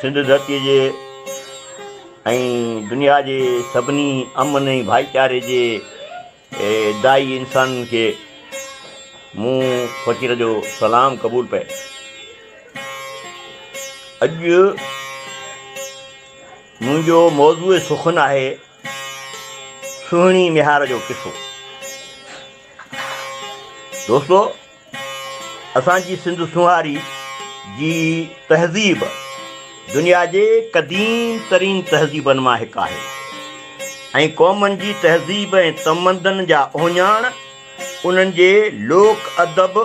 سنڌ ڌرتي جي ۽ دنيا جي سڀني امن ۽ ڀائيچاري جي دائي انسانن کي مون فقير جو سلام قبول پئي اڄ منهنجو موضوع سخن آهي سهڻي ميهار جو قصو دوستو اسان جي سنڌ سونهاري جي تهذيب دنيا جي قديم ترين تهذيبن مان هڪ آهي ۽ قومن جي تهذيب ۽ تمدن جا اهڃاڻ انهن جي لوڪ ادب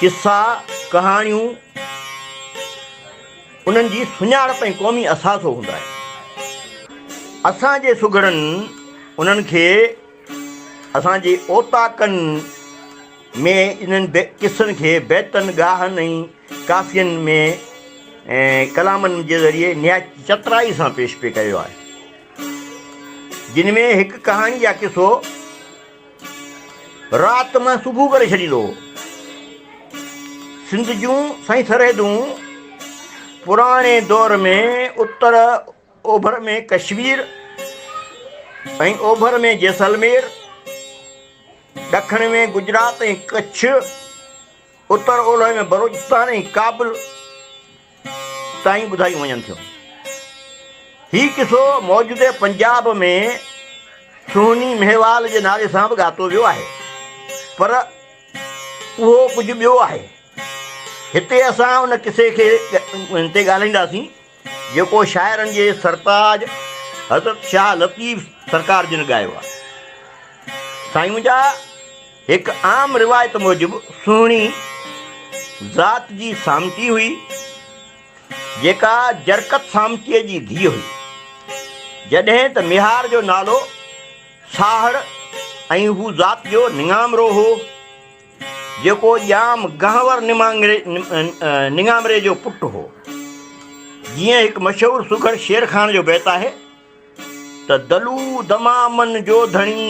قصا، ڪهاڻيون انهن جي سڃاڻپ ۽ قومي اثاثو هوندا آهن. اسان جي سگهڙن انهن کي اسان جي اوطاقن ۾ انهن قصن کي بيتن، ڳاهن ۽ ڪافين ۾ ڪلامن جي ذريعي نهايت چترائي سان پيش پئي ڪيو آهي، جن ۾ هڪ ڪهاڻي يا قصو، رات مان صبح ڪري ڇڏيندو هو. سنڌ جون سئي سرحدون پراڻي دور ۾ اتر اوڀر ۾ ڪشمير ۽ اوڀر ۾ جيسلمير، ڏکڻ ۾ گجرات ۽ ڪڇ، اتر اولهه ۾ بلوچستان ۽ ڪابل، تائين ٻڌايون وڃن ٿيون. هي قصو موجوده پنجاب ۾ سهني مهيوال جي نالي سان به ڳاتو ويو آهي، پر اهو ڪجهه ٻيو آهي. هتي اسان ان قصي کي تي ڳالهائينداسين، جيڪو شاعرن جي سرتاج حضرت شاهه لطيف سرڪار جن ڳايو آهي. سائين منهنجا هڪ عام روايت موجب سهڻي ذات جي سامٽي هئي، جيڪا جرڪت سامٽيء جي ڌيء هئي، جڏهن ته ميهار جو نالو ساهڙ ۽ هو ذات جو نڱامرو هو، جيڪو ڄام گهنور نڱامري جو پٽ هو. جيئن هڪ مشهور سگهڙ شيرخان جو بيت آهي ته دلو دمامن جو ڌڻي.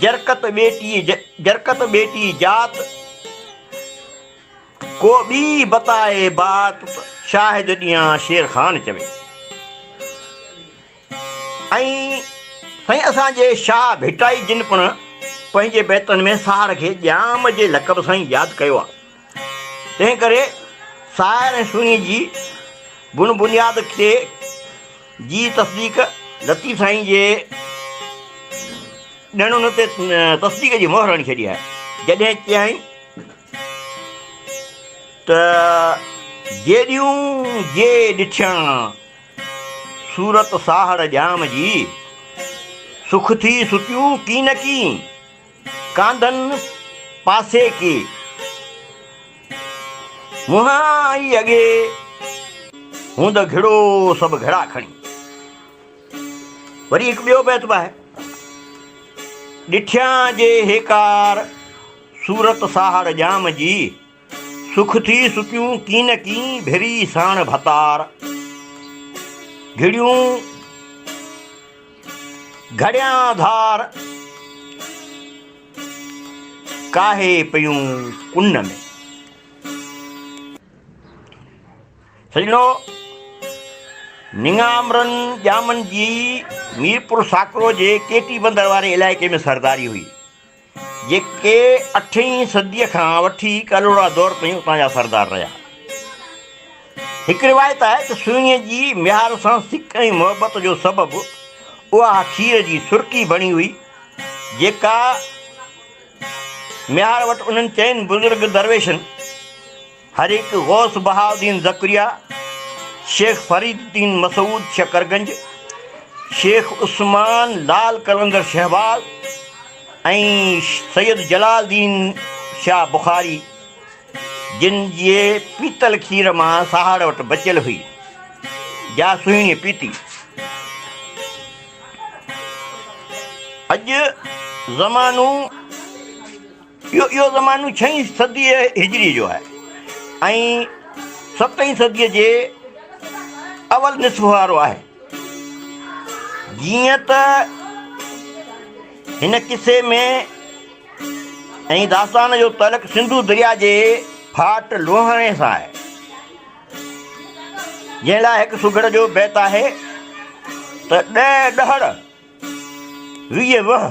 جرڪت ٻيٽي جرڪت ٻيٽي جات، ڪو ٻي بتائي بات شاهد ڏيان شير خان چوي. ۽ سائين اسان جي شاهه ڀٽائي جن پڻ پنهنجي بيتن ۾ ساهر کي ڄام جي لقب سان ئي ياد ڪيو آهي. تنهن ڪري سائر ۽ سنهي جي بن بنياد تي جي تصديق لطيف سائين جي ڏڻن تي تصديق جي مهر هڻي ڇڏي آهي. جڏهن چيائين ته جيڏيون جي ڏٺيان صورت ساهڙ ڄام جي، سک ٿي ستيون ڪين ڪين. ڪانڌن پاسي ڪي، منهن ئي اڳي، هوند گهڙو سڀ گهڙا کڻي. وري هڪ ٻيو بيت به آهي. ڏٺيان جي هيڪار، صورت ساهڙ ڄام جي. سک ٿي سڪيون ڪين ڪين ڀري ساڻ ڀتار گهڙيون گهڙيان ڌار ڪاهي پيون ڪن ۾. سڄڻو! نڱامرن ڄامن جي ميرپور ساڪرو جي ڪيٽي بندر واري علائقي ۾ سرداري هئي. جيڪي اٺين صديء کان وٺي ڪلهوڙا دور تائين اتان جا سردار رهيا. هڪ روايت آهي ته سوئينء جي ميهار سان سڪ ۽ محبت جو سبب اها کير جي سرڪي بڻي هئي، جيڪا ميهار وٽ انهن چئن بزرگ درويشن، هر هڪ غوث بهاءالدين ذڪريا، شيخ فريد الدين مسعود شڪرگنج، شيخ عثمان لعل قلندر شهباز ۽ سيد جلال الدين شاهه بخاري جن جي پيتل کير مان سهاڙ وٽ بچيل هئي جا سهڻيء پيتي. اڄ زمانو. اهو زمانو ڇهين صديء هجريء جو آهي ۽ ستين صديء جي اول نصف وارو آهي. جيئن ته هن قصي ۾ ۽ داستان جو تعلق سنڌو درياء جي ڦاٽ لوهاڻي سان آهي، جنهن لاء هڪ سگهڙ جو بيت آهي ته، ڏهه ڏهڙ، ويهه وهه،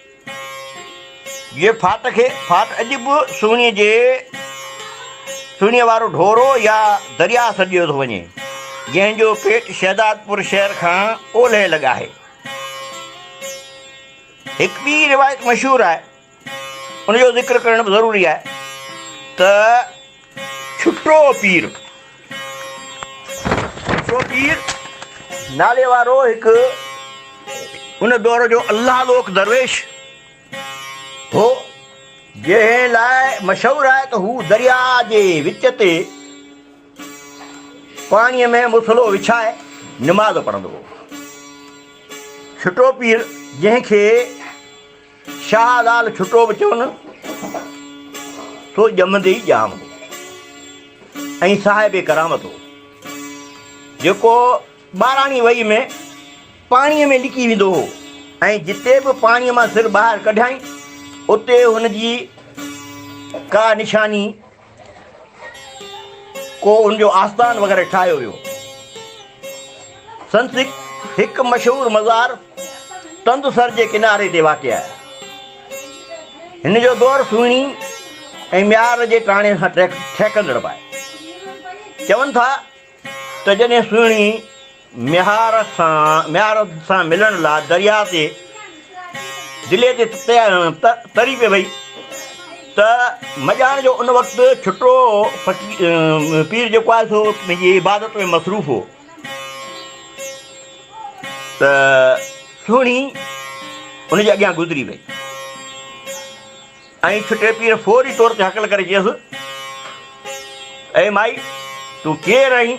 جيئن ڦاٽ کي ڦاٽ اڄ به سهڻيء جي سهڻيء وارو ڍورو يا درياهه سڏيو ٿو وڃي، جنهن جو پيٽ شهدادپور شهر کان اولهه لڳ آهي. هڪ ٻي روايت مشهور آهي، ان جو ذڪر ڪرڻ به ضروري آهي ته ڇٽو پير، ڇٽو پير نالي وارو هڪ ان دور جو الله لوڪ درويش هو، جنهن لاء مشهور آهي ته هو درياء جي وچ تي پاڻيء ۾ مصلو وڇائي نماز پڙهندو هو. ڇٽو پير جنهن کي شاهه لعل ٺٽو به چون سو ڄمندي ئي ڄام هو ۽ صاحب ڪرامت هو جيڪو ٻاراڻي وئي ۾ پاڻي ۾ لڪي ويندو هو ۽ جتي به پاڻي مان سر ٻاهر ڪڍيائين اتي هن جي ڪا نشاني ڪو ان جو آستان وغيره ٺاهيو ويو سنت هڪ مشهور مزار تندسر جي ڪناري تي واقع آهي هن جو دور سهڻي ۽ ميار جي ٽاڻي سان ٺهڪندڙ به آهي چون ٿا ته جڏهن سهڻي ميهار سان ميهار سان ملڻ لاء درياء تي دلي تي تري پئي وئي ته مڄاڻ جو ان وقت ڇٽو فقير پير جيڪو آهي سو پنهنجي عبادت ۾ مصروف هو ته سهڻي ان جي اڳيان گذري وئي ۽ ڇٽي پير فوري طور تي هڪل ڪري چيس، اي مائي! تون ڪير آهين؟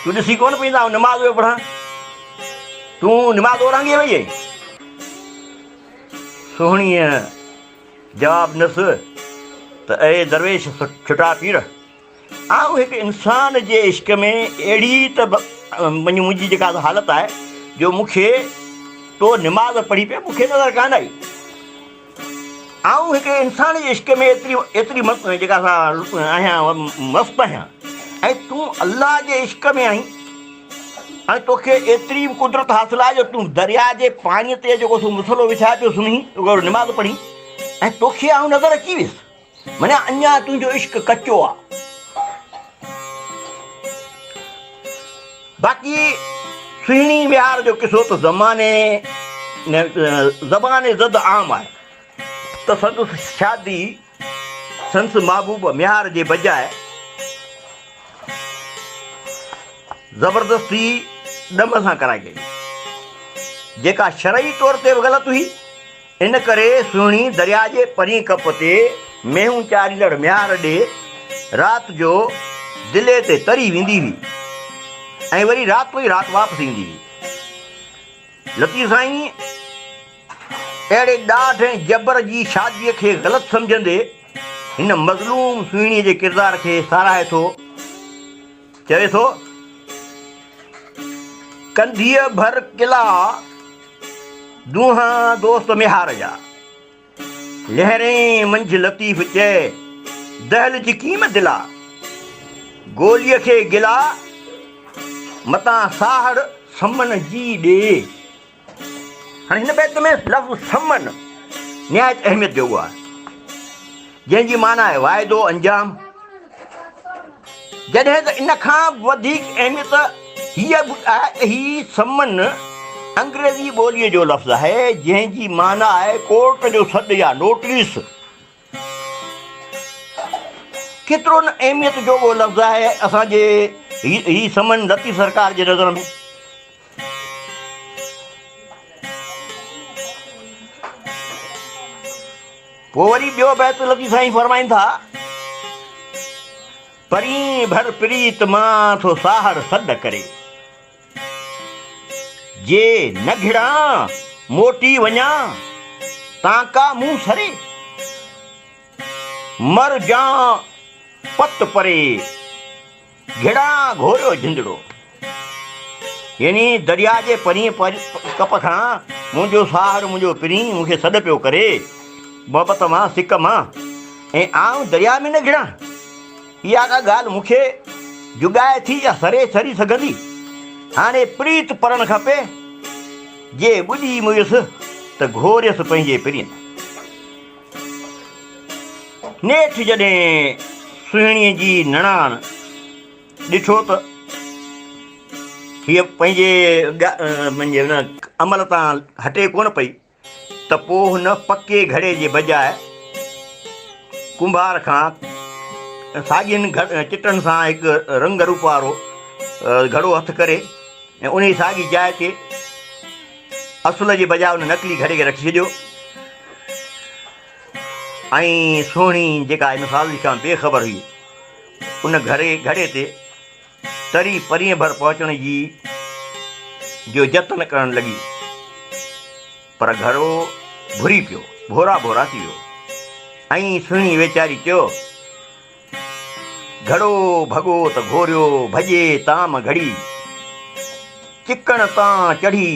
تون ڏسي ڪونه پئي ته آئون نماز پيو پڙهان؟ تون نماز اورانگهي وئي آهين؟ سهڻيء جواب ڏنس ته اي درويش ڇٽا پير! آئون هڪ انسان جي عشق ۾ اهڙي ته منهنجي جيڪا حالت آهي جو مون کي تو نماز پڙهي پئي مون کي نظر ڪانه آئي آئون هڪ انسان جي عشق ۾ ايتري ايتري مست جيڪا سا آهيان مست آهيان ۽ تون الله جي عشق ۾ آهين ۽ توکي ايتري قدرت حاصل آهي جو تون دريا جي پاڻي تي جيڪو سو مسلو وڇائي پيو سمهين نماز پڙهين ۽ توکي آئون نظر اچي ويس منهنجا اڃا تنهنجو عشق ڪچو آ. باقي سهڻي وهار جو قصو ته زماني زبان زد عام آهي ته سندس شادي سندس محبوب ميهار جي بجاء زبردستي ڏم سان ڪرائي وئي جيڪا شرعي طور تي به غلط هئي ان ڪري سهڻي درياء جي پرين ڪپ تي مينهون چاريندڙ ميار ڏي رات جو دلي تي تري ويندي هئي ۽ وري راتو ئي رات واپس ايندي هئي. لطيف سائين اهڙي ڏاڍ ۽ جبر جي شاديء کي غلط سمجهندي هن مظلوم سهڻي جي ڪردار کي ساراهي ٿو. چوي ٿو، ڪنڌيء ڀر قلعا دونهان دوست ميهار جا، لهرين منجهه لطيف چئي، دهل چڪيم دلا، گوليء کي گلا، متان ساهڙ سمن جي ڏي. هاڻي هن بيت ۾ لفظ ثمن نهايت اهميت جو آهي جنهن جي معنيٰ آهي واعدو انجام جڏهن ته ان کان وڌيڪ اهميت هيء به آهي ته هي ثمن انگريزي ٻوليء جو لفظ آهي جنهن جي معنيٰ آهي ڪورٽ جو سڏ يا نوٽيس ڪيترو نه اهميت جو اهو لفظ آهي اسان جي هي سمن لطيف سرڪار جي نظر ۾ پوء وري ٻيو بيت لطيف سائين فرمائن ٿا پرين ڀر پريت مان ٿو ساهڙ سڏ ڪري جي نه گهڙان موٽي وڃان، تانڪا مون سري. مر جان پت پري، گهڙان گهوريو جندڙو. يعني درياء جي پرينء ڪپ کان منهنجو ساهڙ منهنجو پرين مون کي سڏ پيو ڪري، محبت مان سڪ مان ۽ آئون درياء ۾ نه گهڙان. اها ڪا ڳالهه مون کي جڳائي ٿي يا سري سري سگهندي؟ هاڻي پريت پرڻ کپي، جي ٻڏي مئيس ته گهوريس پنهنجي پرين. نيٺ جڏهن سهڻيء جي نڻان ڏٺو ته هيء پنهنجي عمل تان هٽي ڪونه پئي. ته پوء هن پڪي گهڙي جي بجاء ڪنڀار کان ساڳين چٽن سان هڪ رنگ روپ وارو گهڙو هٿ ڪري ۽ انهي ساڳي جاء تي اصل جي بجاء ان نقلي گهڙي کي رکي ڇڏيو ۽ سهڻي جيڪا هن ساز کان بي خبر هئي ان گهڙي گهڙي تي تري پرينء ڀر پهچڻ جي جو جتن ڪرڻ لڳي، پر گهرو ڀري پيو، ڀورا ڀورا ٿي ويو. ائين سهڻي ويچاري چيو، گهڙو ڀڳو ته گهوريو، ڀڄي تام گهڙي، چڪڻ تان چڙهي،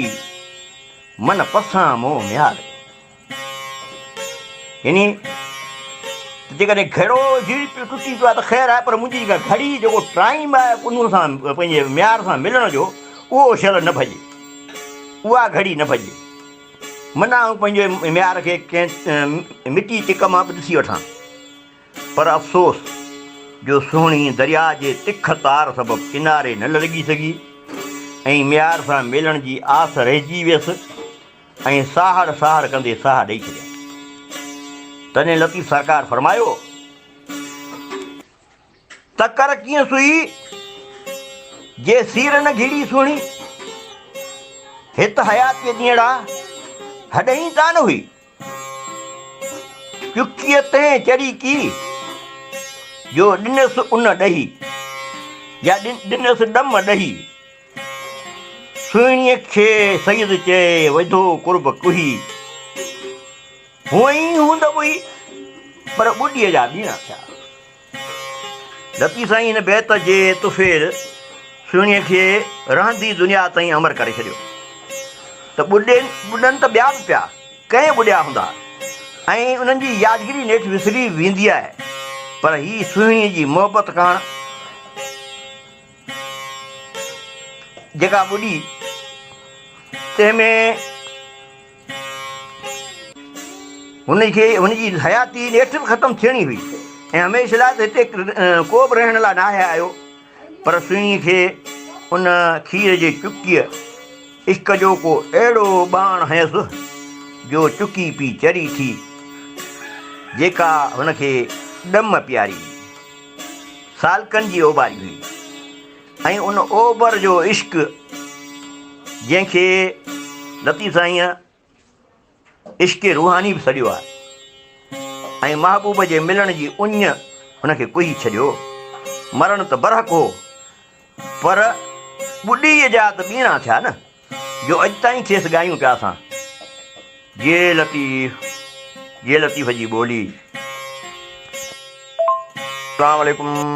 من پسان مون ميار. يعني ته جيڪڏهن گهڙو جيئن پيو ٽٽي پيو آهي ته خير آهي پر منهنجي جيڪا گهڙي جيڪو ٽائيم آهي ان سان پنهنجي معيار سان ملڻ جو اهو شل نه ڀڄي اها گهڙي نه ڀڄي منا آئون پنهنجي معيار کي ڪنهن مٽي ٽڪ مان به ڏسي وٺان پر افسوس جو سهڻي درياء جي تک تار سبب ڪناري نه لڳي سگهي ۽ معيار سان ملڻ جي آس رهجي ويس ائين ساهڙ ساهڙ ڪندي ساهه ڏئي ڇڏيائين. تڏهن لطيف سرڪار فرمايو ته ڪر ڪيئن سوئي جي سير نه گهيڙي سهڻي، هت حياتيء ڏينهڙا هڏهين ڪانه هئي، چڪيء تنهن چڙهي ڪي جو ڏنس ان ڏهي يا ڏنس ڏم ڏهي. سهڻيء کي سيد چئي وڌو قرب ڪوهي. هونئن ئي هوند ٻوهي پر ٻڏيء جا ٻيڻا ٿيا. لطيف سائين هن بيت جي تفير سهڻيء کي رهندي دنيا تائين امر ڪري ڇڏيو ته ٻڏن ته ٻيا به پيا ڪئين ٻڏيا هوندا ۽ انهن جي يادگيري نيٺ وسري ويندي آهي پر هي سهڻيء جي محبت ڪاڻ جيڪا ٻڏي تنهن ۾ هن کي هن جي حياتي نيٺ به ختم ٿيڻي هئي ۽ هميشه لاء ته هتي ڪو به رهڻ لاء ناهي آيو پر سهڻي کي ان کير جي چڪيء عشق جو ڪو اهڙو ٻاڻ هنيس جو چڪي پي چري ٿي جيڪا هن کي ڏم پياري هئي سالڪن جي اوٻاري هئي ۽ ان اوٻر جو عشق جنهن کي لطيف سائينء عشق روحاني به سڏيو آهي ۽ محبوب جي ملڻ جي اڃ هن کي ڪوهي ڇڏيو مرڻ ته برحق هو پر ٻڏيء جا ته ٻيڻا ٿيا نه جو اڄ تائين کيس ڳايون پيا اسان. جي لطيف جي لطيف جي ٻولي. اسلام عليڪم.